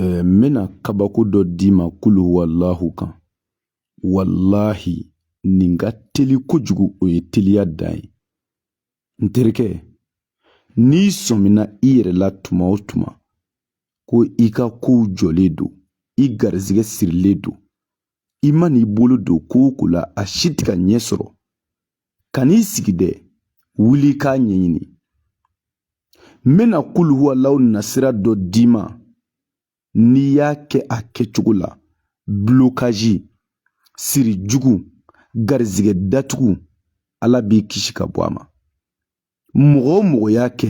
Ɛɛ n bɛna kabako dɔ d'i ma kulu walahu kan walahi nin ka teli kojugu o ye teliya dan ye n terikɛ n'i sɔmina i yɛrɛ la tuma o tuma ko i ka kow jɔlen don i garizigɛ sirilen don i man'i bolo don ko o ko la a si tɛ ka ɲɛ sɔrɔ kan'i sigi dɛ wuli k'a ɲɛɲini n bɛna kuluhuwalaw nasira dɔ d'i ma n'i y'a kɛ a kɛcogo la bulokazi siri jugu garizigɛ datugu ala b'i kisi ka bɔ a ma mɔgɔ o mɔgɔ y'a kɛ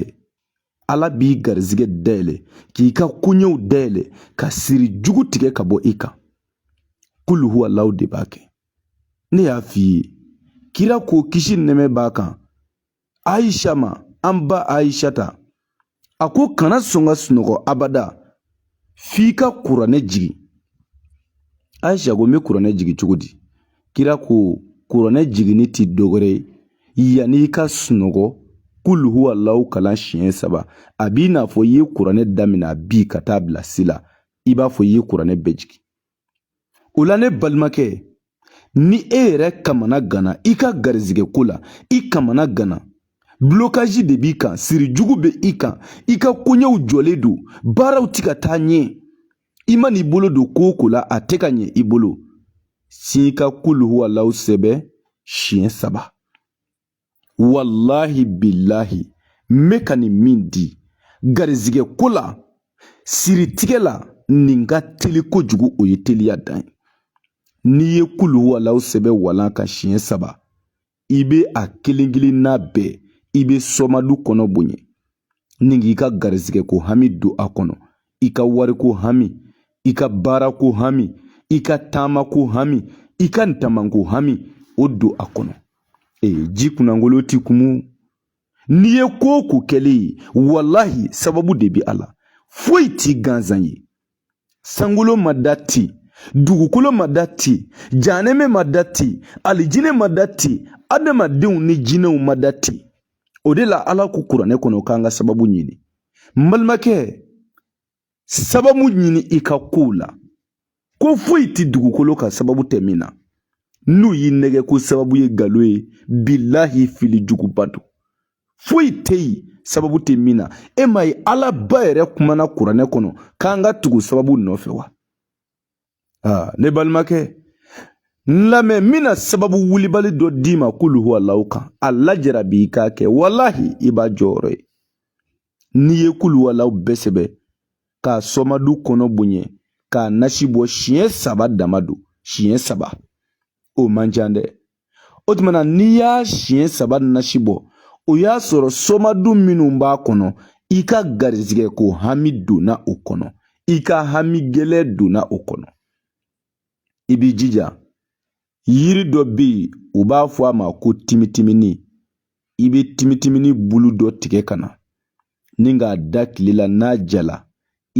ala b'i garizigɛ dayɛlɛ k'i ka koɲɛw dayɛlɛ ka siri jugu tigɛ ka bɔ i kan kulu huwalaw de b'a kɛ ne y'a f'i ye kira ko kisi nɛmɛ b'a kan ayisa ma an ba ayisata a ko kana sɔn ka sunɔgɔ abada f'i ka kuranɛ jigin ayisa ko n bɛ kuranɛ jigin cogo di kira ko kuranɛ jiginni tɛ dɔwɛrɛ ye yanni i ka sunɔgɔ kulu huwalawu kalan siɲɛ saba a b'i n'a fɔ i ye kuranɛ daminɛ a bi ka t'a bila si la i b'a fɔ i ye kuranɛ bɛɛ jigin o la ne balimakɛ ni e yɛrɛ kamana ganna i ka garizigɛ ko la i kamana ganna bulokazi de b'i kan siri jugu bɛ i kan i ka koɲɛw jɔlen don baaraw ti ka taa ɲɛ i man'i bolo don ko o ko la a tɛ ka ɲɛ i bolo sigi ka kuluhuwalaw sɛbɛn siɲɛ saba walahi bilahi n bɛ ka nin min di garizigɛ ko la siritigɛ la nin ka teli kojugu o ye teliya dan ye n'i ye kulu walaw sɛbɛn walan kan siɲɛ saba i bɛ a kelen kelenna bɛɛ i bɛ sɔmadu kɔnɔ bonya ni k'i ka garizigɛ ko hami don a kɔnɔ i ka wariko hami i ka baarako hami i ka taamako hami i ka ntamanko hami o don a kɔnɔ ee ji kunnangolo ti kumu n'i ye ko o ko kɛlen ye walahi sababu de bɛ a la foyi ti gansan ye sankolo ma da ten dugukolo ma da ten janɛmɛ ma da ten alijinɛ ma da ten adamadenw ni jinɛw ma da ten o de la ala ko kuranɛ kɔnɔ k'an ka sababu ɲini n balimakɛ sababu ɲini i ka kow la ko foyi tɛ dugukolo kan sababu tɛ min na n'u y'i nɛgɛn ko sababu ye galon ye bilahi fili juguba don foyi tɛ yen sababu tɛ min na e ma ye ala ba yɛrɛ kumana kuranɛ kɔnɔ k'an ka tugu sababu nɔfɛ wa aa ne balimakɛ n lamɛn n bɛna sababu wulibali dɔ d'i ma kuluhuwalahu kan a lajara b'i k'a kɛ walahi i b'a jɔyɔrɔ ye n'i ye kuluhuwalahu bɛɛ sɛbɛ k'a sɔmadu kɔnɔ bonya k'a nasi bɔ siɲɛ saba dama don siɲɛ saba o man ca dɛ o tuma na n'i y'a siɲɛ saba nasi bɔ o y'a sɔrɔ sɔmadu minnu b'a kɔnɔ i ka garizigɛ ko hami donna o kɔnɔ i ka hami gɛlɛ donna o kɔnɔ i b'i jija yiri dɔ bɛ yen u b'a fɔ a ma ko timitimini i bɛ timitimini bulu dɔ tigɛ ka na ni k'a da tile la n'a jala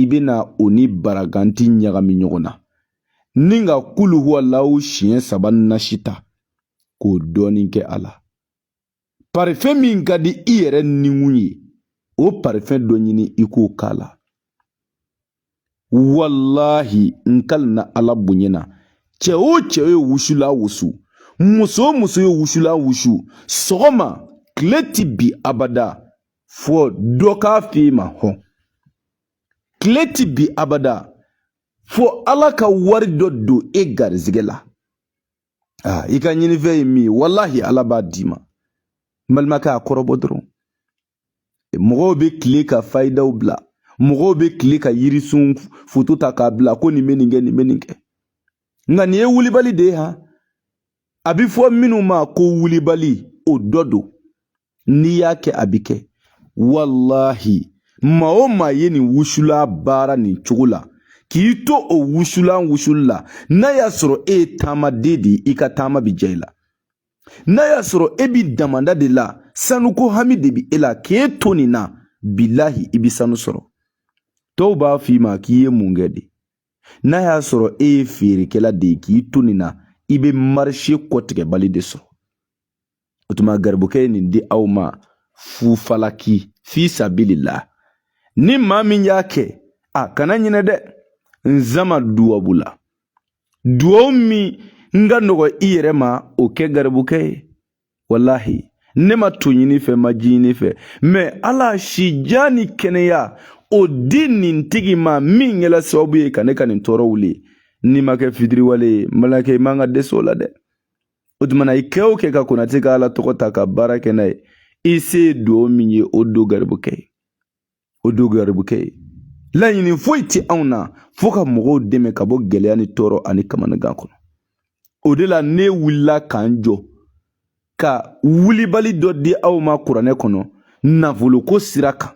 i bɛna o ni baraganti ɲagami ɲɔgɔn na n'i ka kuluhuwalahu siɲɛ saba nasi ta k'o dɔɔnin kɛ a la parifɛn min ka di i yɛrɛ nikun ye o parifɛn dɔ ɲini i k'o k'a la walahi n kalina ala bonya na cɛ o cɛ ye wusulan wusu muso o muso ye wusulan wusu sɔgɔma tile ti bin abada fɔ dɔ k'a f'i ma hɔn tile ti bin abada fɔ ala ka wari dɔ don e garizigɛ la aa i ka ɲinifɛn ye min ye walahi ala b'a d'i ma n balimakɛ a kɔrɔbɔ dɔrɔn mɔgɔw bɛ kile ka fayidaw bila mɔgɔw bɛ kile ka yirisun foto ta k'a bila ko nin bɛ nin kɛ nin bɛ nin kɛ nka nin ye wulibali de ye ha a bɛ fɔ minnu ma ko wulibali o dɔ don n'i y'a kɛ a bɛ kɛ walahi maa o maa ye nin wusulan baara nin cogo la k'i to o wusulan wusuli la n'a y'a sɔrɔ e ye taamaden de ye i ka taama bɛ diya i la n'a y'a sɔrɔ e bi damanda de la sanuko hami de bi e la k'e to nin na bilahi i bi sanu sɔrɔ tɔw b'a f'i ma k'i ye mun kɛ de n'a y'a sɔrɔ e ye feerekɛla de ye k'i to nin na i bɛ marise kɔtigɛbali de sɔrɔ o tuma garibukɛ ye nin di aw ma fufalaki fi sabilila ni maa min y'a kɛ a kana ɲinɛ dɛ n sama duwabu la duwawu min ka nɔgɔ i yɛrɛ ma o kɛ garibukɛ ye walahi ne ma to ɲini i fɛ n ma ji ɲini i fɛ mɛ ala si jan ni kɛnɛya o di nin tigi ma min kɛla sababu ye ka ne ka nin tɔɔrɔ wuli n'i ma kɛ fitiriwale ye n balimakɛ i man ka dɛsɛ o la dɛ o tumana i kɛ o kɛ ka konate ka ala tɔgɔ ta ka baara kɛ n'a ye i se ye duwawu min ye o don garibukɛ ye o don garibukɛ ye laɲini foyi tɛ anw na fo ka mɔgɔw dɛmɛ ka bɔ gɛlɛya ni tɔɔrɔ ani kamanagan kɔnɔ o de la ne wulila ka n jɔ ka wulibali dɔ di aw ma kuranɛ kɔnɔ nafoloko sira kan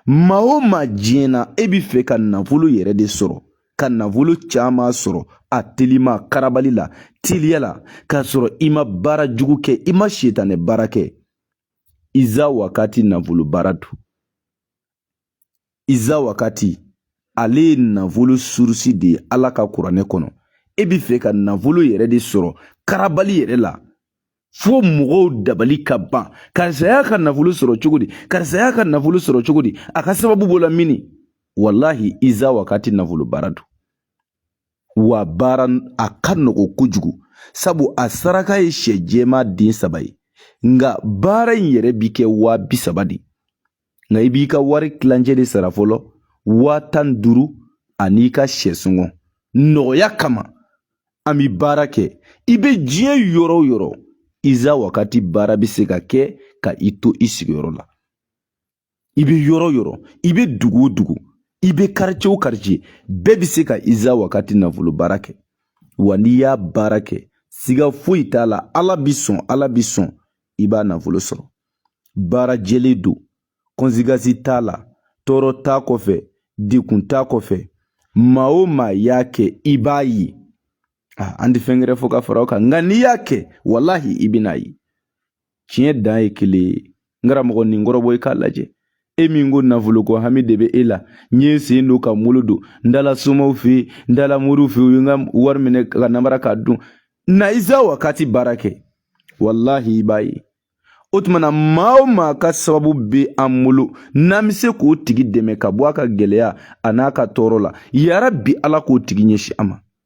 maa o maa diɲɛ na e bɛ fɛ ka nafolo yɛrɛ de sɔrɔ ka nafolo caman sɔrɔ a telima karabali la teliya la k'a sɔrɔ i ma baara jugu kɛ i ma sitanɛ baara kɛ iza wakati nafolo baara don iza wakati ale ye nafolo surusi de ye ala ka kuranɛ kɔnɔ e bɛ fɛ ka nafolo yɛrɛ de sɔrɔ karabali yɛrɛ la fo mɔgɔw dabali ka ban karisa y'a ka nafolo sɔrɔ cogo di karisa y'a ka nafolo sɔrɔ cogo di a ka sababu bɔla mini walahi iza wakati nafolo baara don wa baara a ka nɔgɔn kojugu sabu a saraka ye sɛ jɛman den saba ye nka baara in yɛrɛ bi kɛ waa bi saba de nka i b'i ka wari tilancɛ de sara fɔlɔ waa tan ni duuru an'i ka sɛ sɔngɔ nɔgɔya kama an bi baara kɛ i bɛ diɲɛ yɔrɔ o yɔrɔ iza wakati baara bɛ se ka kɛ ka i to i sigiyɔrɔ la i bɛ yɔrɔ o yɔrɔ i bɛ dugu o dugu i bɛ karice o karice bɛɛ bɛ se ka iza wakati nafolo baara kɛ wa n'i y'a baara kɛ siga foyi t'a la ala bi sɔn ala bi sɔn i b'a nafolo sɔrɔ baara jɛlen don kɔnsekansi t'a la tɔɔrɔ t'a kɔfɛ degun t'a kɔfɛ maa o maa y'a kɛ i b'a ye an tɛ fɛn gɛrɛ fɔ ka fara o kan nka n'i y'a kɛ walahi i bɛn'a ye tiɲɛ dan ye kelen ye n karamɔgɔ nin kɔrɔbɔ i k'a lajɛ e min ko nafoloko hami de bɛ e la n ye n sen don ka n bolo don n taala somaw fɛ yen n taala moriw fɛ yen u ye n ka wari minɛ ka n namara k'a dun na iza wakati baara kɛ walahi i b'a ye o tuma na maa o maa ka sababu bɛ an bolo n'an bɛ se k'o tigi dɛmɛ ka bɔ a ka gɛlɛya an'a ka tɔɔrɔ la yarabi ala k'o tigi ɲɛsin an ma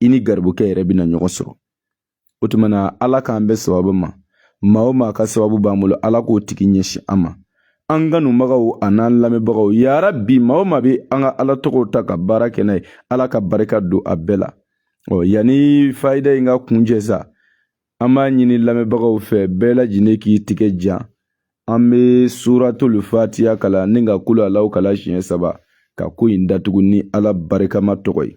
i ni garibukɛ yɛrɛ bɛna ɲɔgɔn sɔrɔ o tuma na ala k'an bɛn sababu ma maa o maa ka sababu b'an bolo ala k'o tigi ɲɛsin an ma an kanubagaw an'an lamɛnbagaw yarabi maa o maa bɛ an ka ala tɔgɔw ta ka baara kɛ n'a ye ala ka barika don a bɛɛ la ɔ yanni fayida in ka kuncɛ sa an b'a ɲini lamɛnbagaw fɛ bɛɛ lajɛlen k'i tigɛ jan an bɛ suratulu fatiya kalan ni ka kulu alaw kalan siɲɛ saba ka ko in datugu ni ala barikama tɔgɔ ye